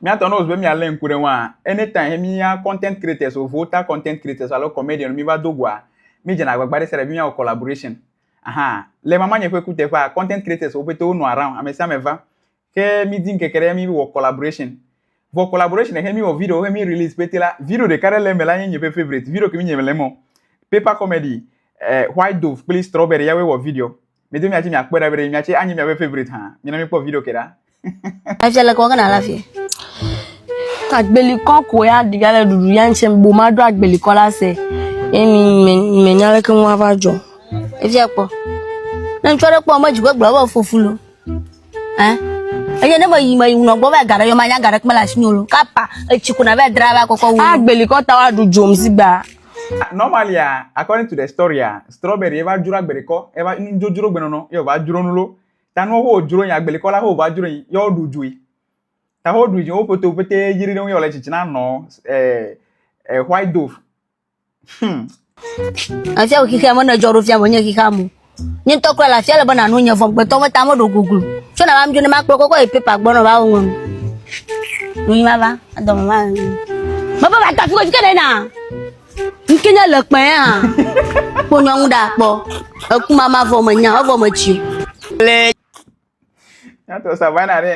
Míatɔ ne wòzu be míalé ŋku ɖe ŋua, anytime mía content creators alo vota content creators alo comedian míva do goa, mídzena agbagba ɖe sia ɖe be míawɔ collaboration. Ahan, le mamanye ƒe kuteƒea, content creators wo pɛtɛ wonɔ around, ame sia ame va. Ke mídi ŋkeke ɖe míwɔ collaboration. Vɔ collaboration xe míwɔ video xe mí release pɛtɛ la, video ɖeka ɖe le eme la nye nye ƒe favorite. Video ke mi nye mele emɔ. Paper comedy, eh, white dove kple strawberry ya woe wɔ video. Mi do miachi miakpɔe ɖa be miachi anyi miabe favorite hã. Mina mi kpɔ video ke ɖa. Efia le kɔkɔ na la fie. Agbelikɔ ko ya ɖi ya le ɖuɖu ya ŋtsɛ bo ma ɖo agbelikɔ la se. Emi me me nya leke ŋu ava dzɔ. Efia kpɔ. Ne ŋtsɔ ɖe kpɔ me dzigbe gblɔ be fofu lo. Hein? Eye ne me yi me yi ŋunɔ gbɔ va gaɖe yɔ ma nya gaɖe kme le asi nyo lo. Kapa etsi ko na va dra va kɔkɔ wo. Agbelikɔ ta wa ɖu dzom zigba. Normalia, according to the storya, strawberry eva dzro agbelikɔ, eva nudzodzro gbenɔnɔ, ye wòva dzro nu lo. Ta nuwo wo dzro yi agbelikɔ la wo va dzro yi, ye woɖu dzoe. Ta wo ɖu dzi wo ƒoto pete yri ɖe ŋu ye wòle tsitsina nɔ eh, eh, white dove. Hmm. Afia wò xixeame ne dzɔ ɖo fia me nye xixeame. nye ŋutɔ kura le afia le be nanu nye vɔgbetɔ me ta meɖo goglo tso na mam dzo ne makplɔ kɔkɔ yi pepa gbɔ ne va wɔm nuyi ma va adɔme ma mebe va tafi kodzi ke ɖe na ŋke nye le kpɛ ya kpɔ nyɔnu ɖa kpɔ eku mama vɔ me nya evɔ me tsi le Nyato savana ɖe.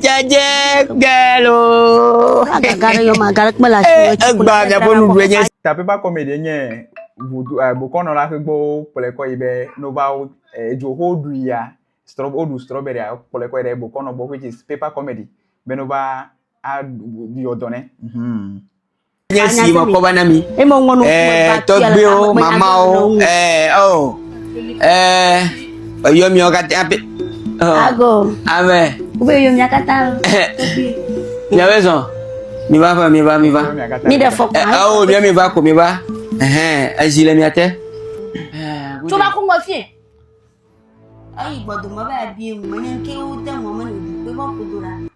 Dzadze galo. Agaga ɖe yɔ ma, agaɖe kpe le asi. Eh, egba miaƒe nuɖu enye. Tapepa kɔmedi nye vodu eh, bokɔnɔla ƒe gbɔwo kplɔe kɔ yi be nova wo eh, edzo ho ɖu ya strɔ woɖu strawberry a kplɔe kɔ yi ɖe bokɔnɔ gbɔ which is paper comedy be nova a yɔ dɔ ne. Mm -hmm. nye si mekɔ va na mi ɛɛ tɔgbuiwo mamawo ɛɛ ɔ ɛɛ eyɔ miawo katã pe ɔ amɛ miawo zɔn mi va va mi va mi va mi ɖe fɔ kura awo mia mi va ko mi va ɛhɛn ezi le mia te. tó bá kó ŋgɔ fíɛ. eyi gbɔdɔmɔ bá yà bí eŋu mɛ ní kéwú tẹ mɔ mɛ ní òdì pé bọ́ kodo la.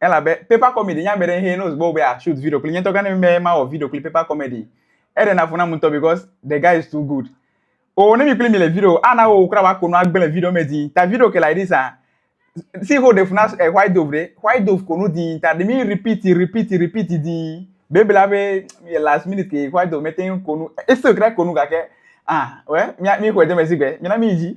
elabe paper comedy nye ame ɖe hɛ ne wògbe be shoot video kpli nye ŋutɔ gane be mawɔ video kpli paper comedy eɖena fu nam ŋutɔ because the guy is too good o ne mi kpli mi le video ana wo kura wa ko nu agbe le video me di ta video ke like this ah si ho ɖe fu na eh, white dove ɖe white dove ko nu di ta ɖe mi repeat repeat repeat di bebla be last minute ke white dove mete ŋu ko nu ese kura ko nu gake ah wɛ mi mi xɔ edeme si gbe mi na mi dzi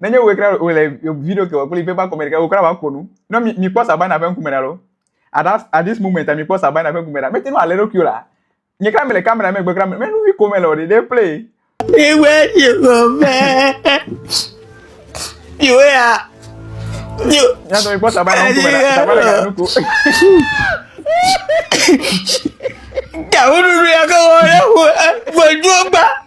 nenye wòe kura wòle video ke wòkpli paper kɔmɛ ɖeka wòkura va ko nu ne mi mi kpɔ sabana ƒe ŋkume ɖa lo at that at this moment mi kpɔ sabana ƒe ŋkume ɖa mete nu alé ɖokui o la nye kura mele kamera megbe kura mele nu vi ko mele o ɖe ɖe play. ìwé ìwé mẹ ìwé ya. nyatɔ mi kpɔ sabana ŋkume ɖa sabana gana nu ko. gawo ɖuɖu ya ke wɔ ɖe ƒo ƒo dua.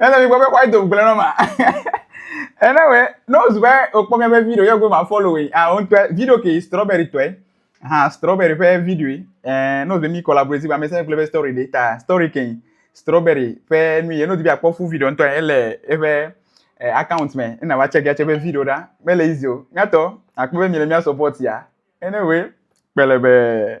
Ele mi gbɔ be why don't gblẽ nɔ ma. Ene we no zu be okpɔ mi be video ye go ma follow we. Ah on twa video ke strawberry twa. Ha strawberry pe video. Eh no be mi collaborate ba me se gble be story de ta. Story ke strawberry pe nu ye no di bi akpɔ full video ntwa ele ebe eh, account me ena wa check ya check be video da. Me le easy o. Nyato akpɔ be mi le mi support ya. Ene we kpelebe.